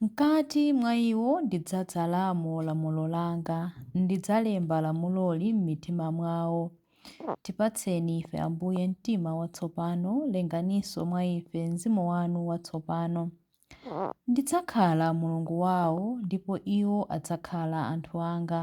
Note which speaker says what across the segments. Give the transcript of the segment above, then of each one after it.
Speaker 1: Mkati mwa iwo ndidzadzalamo lamulo langa, ndidzalemba lamuloli m'mitima mwawo. Tipatseni ife, Ambuye, mtima watsopano, lenganinso mwa ife mzimu wanu watsopano. Ndidzakhala Mulungu wawo, ndipo iwo adzakhala anthu anga.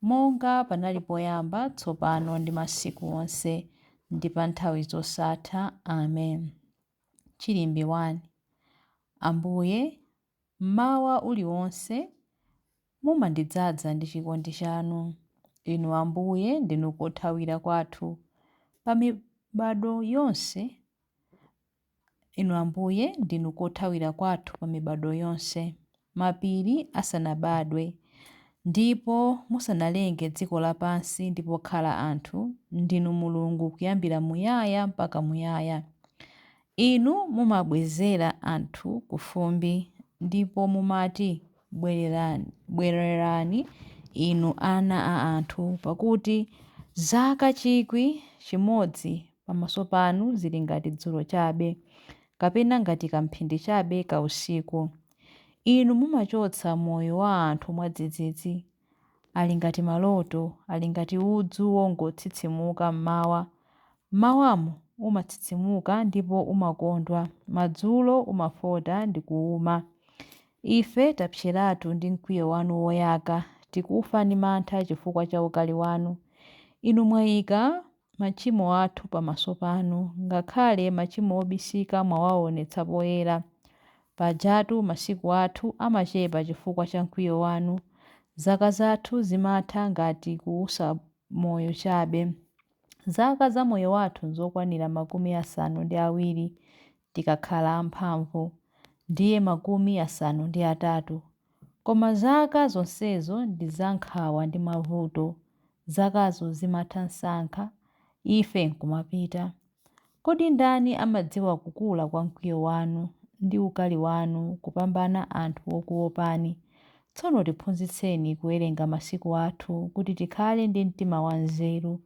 Speaker 1: Monga panali poyamba, tsopano ndi masiku onse, ndi pa nthawi zosatha. Amen. Chilimbi 1. Ambuye, mmawa uliwonse mumandidzaza ndi chikondi chanu. Inu Ambuye ndinu kothawira kwathu pa mibadwo yonse. Inu Ambuye, ndinu kothawira kwathu pa mibadwo yonse. Mapiri asanabadwe, ndipo musanalenge dziko lapansi ndi pokhala anthu, ndinu Mulungu kuyambira muyaya mpaka muyaya. Inu mumabwezera anthu kufumbi, ndipo mumati, Bwereran, bwererani, inu ana a anthu, pakuti zaka chikwi chimodzi pamaso panu zili ngati dzulo chabe, kapena ngati kamphindi chabe ka usiku. Inu mumachotsa moyo wa anthu mwadzidzidzi. Ali ngati maloto, ali ngati udzu wongotsitsimuka m'mawa. M'mawamo umatsitsimuka ndipo umakondwa, madzulo umafota ndi kuwuma. Ife tapseratu ndi mkwiyo wanu woyaka, tikufa ndi mantha chifukwa cha ukali wanu. Inu mwayika machimo athu pamaso panu, ngakhale machimo obisika mwawaonetsa poyera. Pajatu masiku athu amachepa chifukwa cha mkwiyo wanu, zaka zathu zimatha ngati kuusa moyo chabe. Zaka za moyo wathu nzokwanira makumi asanu ndi awiri tikakhala amphamvu, ndiye makumi asanu ndi atatu, koma zaka zonsezo ndi za nkhawa ndi mavuto, zakazo zimatha msanga, ife nkumapita. Kodi ndani amadziwa kukula kwa mkwiyo wanu ndi ukali wanu kupambana anthu okuwopani? Tsono tiphunzitseni kuwerenga masiku athu, kuti tikhale ndi mtima wanzeru.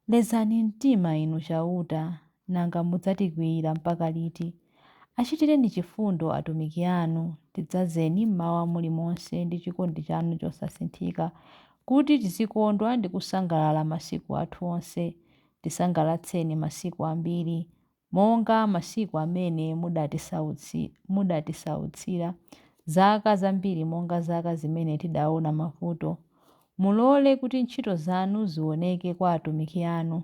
Speaker 1: Lezani mtima, Inu Chauta, Nanga mudzatikwiyira mpaka liti? Achitireni chifundo atumiki anu, tidzazeni m'mawa mulimonse ndi chikondi chanu chosasinthika, kuti tizikondwa ndi kusangalala masiku athu onse. Tisangalatseni masiku ambiri, monga masiku amene mudatisautsira, zaka zambiri monga zaka zimene tidaona mavuto. Mulole kuti ntchito zanu ziwoneke kwa atumiki anu.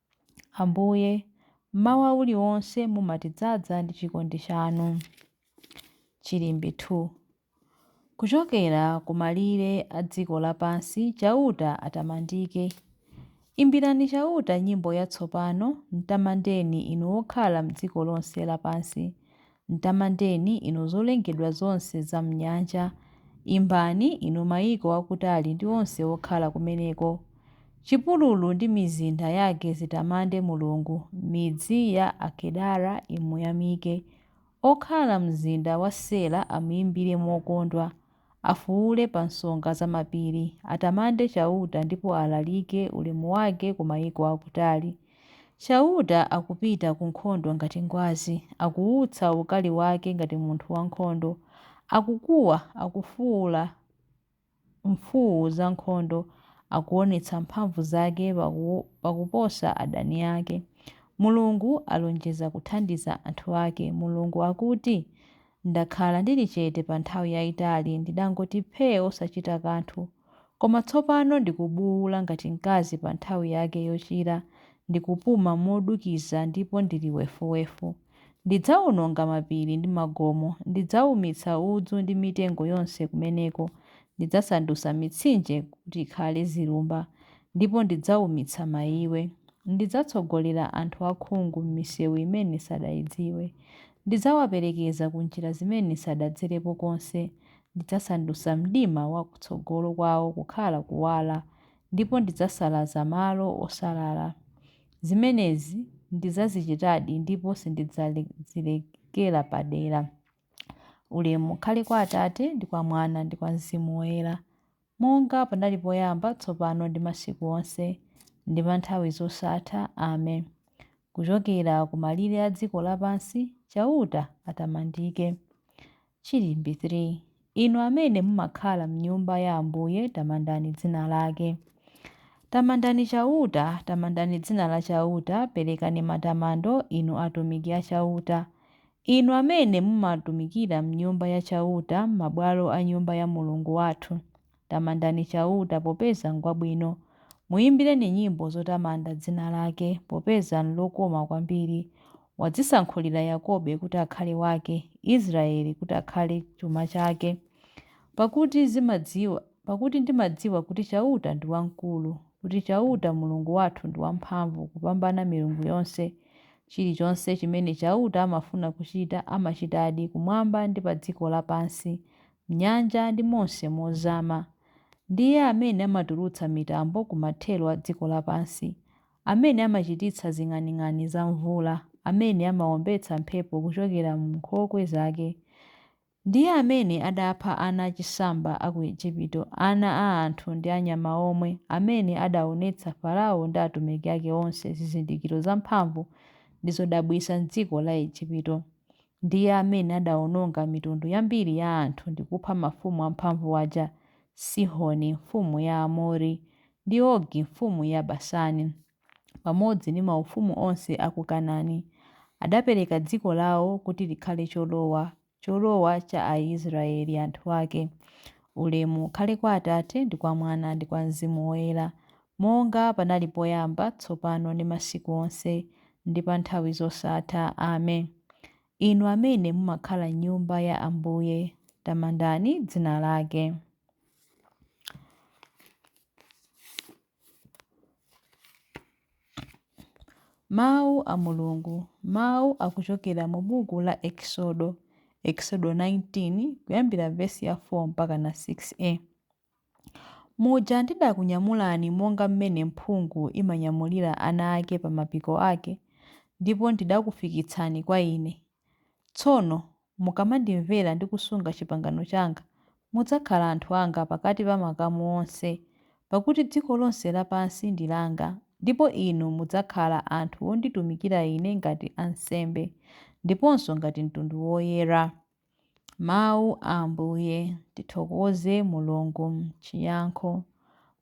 Speaker 1: Ambuye, mmawa uliwonse mumatidzaza ndi chikondi chanu. Chilimbi 2. Kuchokera ku malire a dziko lapansi Chauta atamandike. Imbirani Chauta nyimbo yatsopano, mtamandeni inu okhala m'dziko lonse lapansi. Mtamandeni, inu zolengedwa zonse za m'nyanja, imbani, inu mayiko akutali ndi onse okhala kumeneko. Chipululu ndi mizinda yake zitamande Mulungu, midzi ya Akedara imuyamike. Okhala m'mzinda wa Sela amuimbire mokondwa. Afuwule pa nsonga za mapiri, atamande Chauta ndipo alalike ulemu wake ku maiko akutali. Chauta akupita ku nkhondo ngati ngwazi, akuwutsa ukali wake ngati munthu wankhondo. Akukuwa, akufuwula mfuwu zankhondo, akuwonetsa mphamvu zake pakuposa adani ake. Mulungu alonjeza kuthandiza anthu ake Mulungu akuti, Ndakhala ndili chete pa nthawi yaitali, ndidangoti phee osachita kanthu. Koma tsopano ndikubuula ngati mkazi pa nthawi yake yochira, ndikupuma modukiza ndipo ndili wefuwefu. Ndidzaononga mapiri ndi magomo, ndidzaumitsa udzu ndi mitengo yonse kumeneko, ndidzasandutsa mitsinje kuti ikhale zilumba, ndipo ndidzaumitsa maiwe. Ndidzatsogolera anthu akhungu m'miseu imene sadaidziwe. Ndidzawaperekeza ku njira zimene sadadzerepo konse, ndidzasandutsa mdima wa kutsogolo kwawo kukhala kuwala, ndipo ndidzasalaza malo osalala. Zimenezi ndidzazichitadi ndipo sindidzazilekera padera. Ulemu ukhale kwa Atate, ndi kwa Mwana, ndi kwa Mzimu Woyera. Monga panali poyamba, tsopano ndi masiku onse, ndi pa nthawi zosatha. Amen. Kuchokera ku malire a dziko lapansi, Chauta atamandike. Chilimbi 3. Inu amene mumakhala m'Nyumba ya Ambuye, tamandani dzina lake. Tamandani Chauta, tamandani dzina la Chauta, perekani matamando, inu atumiki a Chauta, Inu amene mumatumikira m'Nyumba ya Chauta, m'mabwalo a Nyumba ya Mulungu wathu, tamandani Chauta popeza ngwabwino, muimbireni nyimbo zotamanda dzina lake, popeza nlokoma kwambiri. Wadzisankhulira Yakobe kuti akhale wake, Israeli kuti akhale chuma chake. Pakuti ndimadziwa kuti Chauta ndi wamkulu, kuti Chauta Mulungu wathu ndi wamphamvu kupambana milungu yonse. Chilichonse chimene Chauta amafuna kuchita, amachitadi, kumwamba ndi pa dziko lapansi, m'nyanja ndi monse mozama. Ndiye amene amatulutsa mitambo ku mathero a dziko lapansi, amene amachititsa zing'aning'ani za mvula, amene amawombetsa mphepo kuchokera m'nkhokwe zake. Ndiye amene adapha ana achisamba a ku Ejipito, ana a anthu ndi a nyama omwe, amene adaonetsa Farao ndi atumiki ake onse zizindikiro zamphamvu ndi zodabwitsa m'dziko la Ejipito. Ndiye amene adaononga mitundu yambiri ya anthu ndi kupha mafumu amphamvu aja, Sihoni, mfumu ya Aamori, ndi Ogi, mfumu ya Basani. pamodzi ndi maufumu onse a ku Kanani, adapereka dziko lao kuti likhale cholowa, cholowa cha Aisraele anthu ake. Ulemu ukhale kwa Atate, ndi kwa Mwana, ndi kwa Mzimu Woyera, monga panali poyamba, tsopano ndi masiku onse, ndi pa nthawi zosatha. Amen. Inu amene mumakhala m'Nyumba ya Ambuye, tamandani dzina lake. Mawu a Mulungu, mawu akuchokera mu buku la Eksodo, Eksodo 19 kuyambira vesi ya 4 mpaka na 6a. Muja ndidakunyamulani monga mmene mphungu imanyamulira ana ake pa mapiko ake, ndipo ndidakufikitsani kwa ine, Tsono mukamandimvera ndi kusunga chipangano changa, mudzakhala anthu anga pakati pa makamu onse, pakuti dziko lonse lapansi ndi langa, ndipo inu mudzakhala anthu onditumikira Ine ngati ansembe, ndiponso ngati mtundu woyera. Mau a Ambuye. Tithokoze Mulungu. M'chiyankho.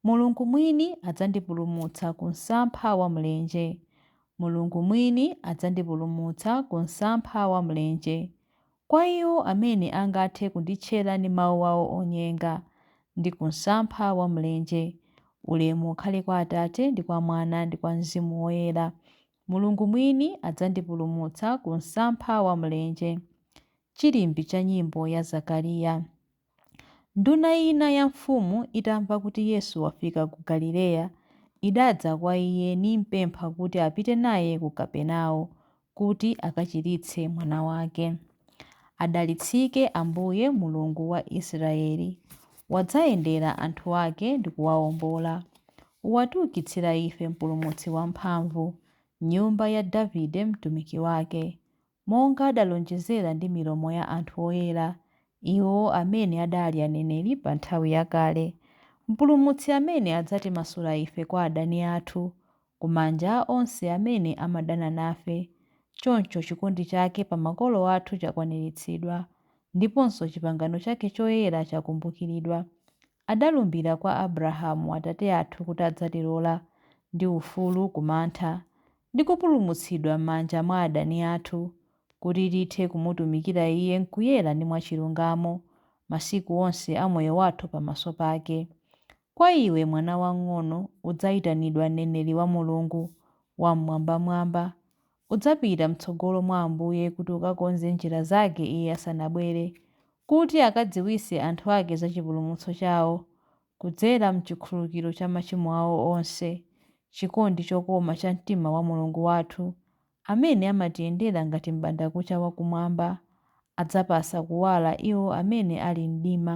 Speaker 1: Mulungu mwini adzandipulumutsa ku msampha wa mlenje. Mulungu mwini adzandipulumutsa ku msampha wa mlenje, kwa iwo amene angathe kunditchera ndi mawu awo onyenga, ndi ku msampha wa mlenje. Ulemu ukhale kwa Atate, ndi kwa Mwana, ndi kwa Mzimu Woyera. Mulungu mwini adzandipulumutsa ku msampha wa mlenje. Chilimbi cha nyimbo ya Zakariya. Nduna ina ya mfumu itamva kuti Yesu wafika ku Galileya, idadza kwa Iye nimpempha kuti apite naye ku Kapernao, kuti akachiritse mwana wake. Adalitsike Ambuye, Mulungu wa Israyeli, wadzayendera anthu ake ndi kuwaombola. Watiukitsira ife Mpulumutsi wamphamvu, m'nyumba ya Davide mtumiki wake, monga adalonjezera ndi milomo ya anthu oyera, iwo amene adali aneneri pa nthawi yakale, Mpulumutsi amene adzatimasula ife kwa adani athu, ku manja a onse amene amadana nafe, choncho chikondi chake pa makolo athu chakwaniritsidwa, ndiponso chipangano chake choyera chakumbukiridwa. Adalumbira kwa Abrahamu atate athu kuti adzatilola, ndi ufulu ku mantha, ndi kupulumutsidwa m'manja mwa adani athu, kuti tithe kumutumikira Iye m'kuyera ndi mwachilungamo, masiku onse a moyo wathu pamaso pake. Kwa iwe, mwana wang'ono, udzaitanidwa mneneri wa Mulungu Wam'mwambamwamba, Udzapita m'tsogolo mwa Ambuye kuti ukakonze njira zake Iye asanabwere, kuti akadziwitse anthu ake za chipulumutso chawo, kudzera m'chikhululukiro cha machimo awo onse, chikondi chokoma cha mtima wa Mulungu wathu, amene amatiyendera ngati m'bandakucha wa kumwamba, adzapatsa kuwala iwo amene ali m'mdima.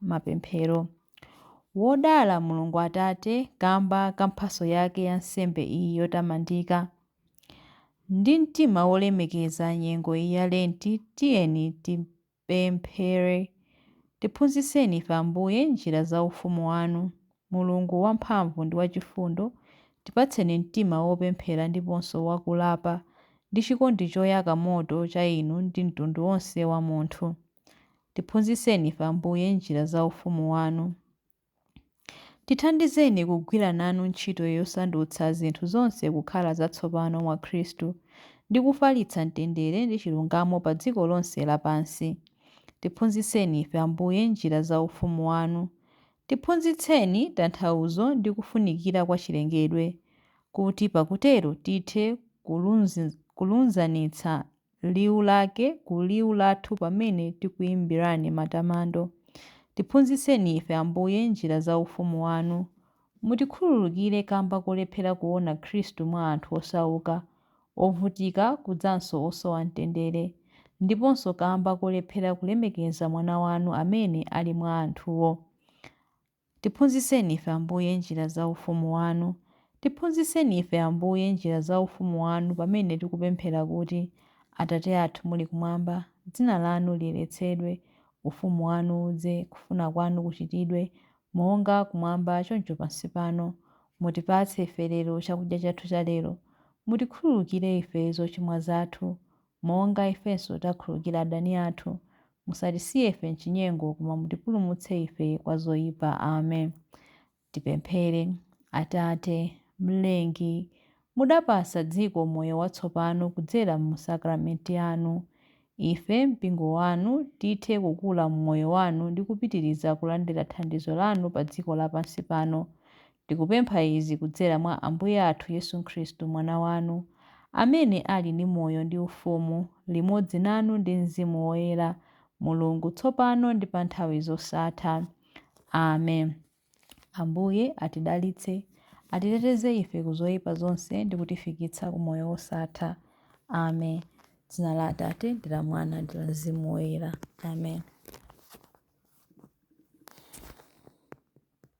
Speaker 1: Mapemphero. Wodala Mulungu Atate kamba ka mphatso yake ya nsembe iyi yotamandika. Ndi mtima wolemekeza nyengo iyi ya Lenti, tiyeni tipemphere. Tiphunzitseni ife, Ambuye, njira za ufumu wanu. Mulungu wamphamvu ndi wachifundo, tipatseni mtima wopemphera ndiponso wakulapa ndi chikondi choyaka moto cha inu ndi mtundu wonse wa munthu. Tiphunzitseni ife, Ambuye, njira za ufumu wanu. Tithandizeni kugwira nanu ntchito yosandutsa zinthu zonse kukhala zatsopano mwa Khristu ndi kufalitsa mtendere ndi chilungamo pa dziko lonse lapansi. Tiphunzitseni ife, Ambuye, njira za ufumu wanu. Tiphunzitseni tanthauzo ndi kufunikira kwa chilengedwe, kuti pakutero tithe kulunzanitsa liwu lake ku liwu lathu pamene tikuimbirani matamando. Tiphunzitseni ife, Ambuye, njira za Ufumu Wanu. Mutikhululukire kamba kolephera kuona Khristu mwa anthu osauka, ovutika, kudzanso osowa mtendere, ndiponso kamba kolephera kulemekeza Mwana Wanu amene ali mwa anthuwo. Tiphunzitseni ife, Ambuye, njira za Ufumu Wanu. Tiphunzitseni ife, Ambuye, njira za Ufumu Wanu pamene tikupemphera kuti, Atate athu muli Kumwamba, Dzina Lanu liyeretsedwe, Ufumu Wanu udze, kufuna Kwanu kuchitidwe, monga Kumwamba choncho pansi pano. Mutipatse ife lero chakudya chathu chalero. Mutikhululukire ife zochimwa zathu, monga ifenso tikhululukira adani athu. Musatisiye ife m'chinyengo, koma mutipulumutse ife kwa zoyipa. Amen. Tipemphere. Atate, Mlengi, mudapatsa dziko moyo watsopano kudzera mu sakramenti anu. Ife, mpingo wanu, tithe kukula m'moyo wanu ndi kupitiriza kulandira thandizo lanu pa dziko lapansi pano. Tikupempha izi kudzera mwa Ambuye athu Yesu Khristu, Mwana wanu, amene ali ndi moyo ndi ufumu limodzi nanu ndi mzimu woyera, Mulungu, tsopano ndi pa nthawi zosatha. Amen. Ambuye atidalitse, atiteteze ife ku zoyipa zonse ndi kutifikitsa ku moyo wosatha. Amen. Dzina la Atate, ndi la Mwana, ndi la Mzimu Woyera. Amen.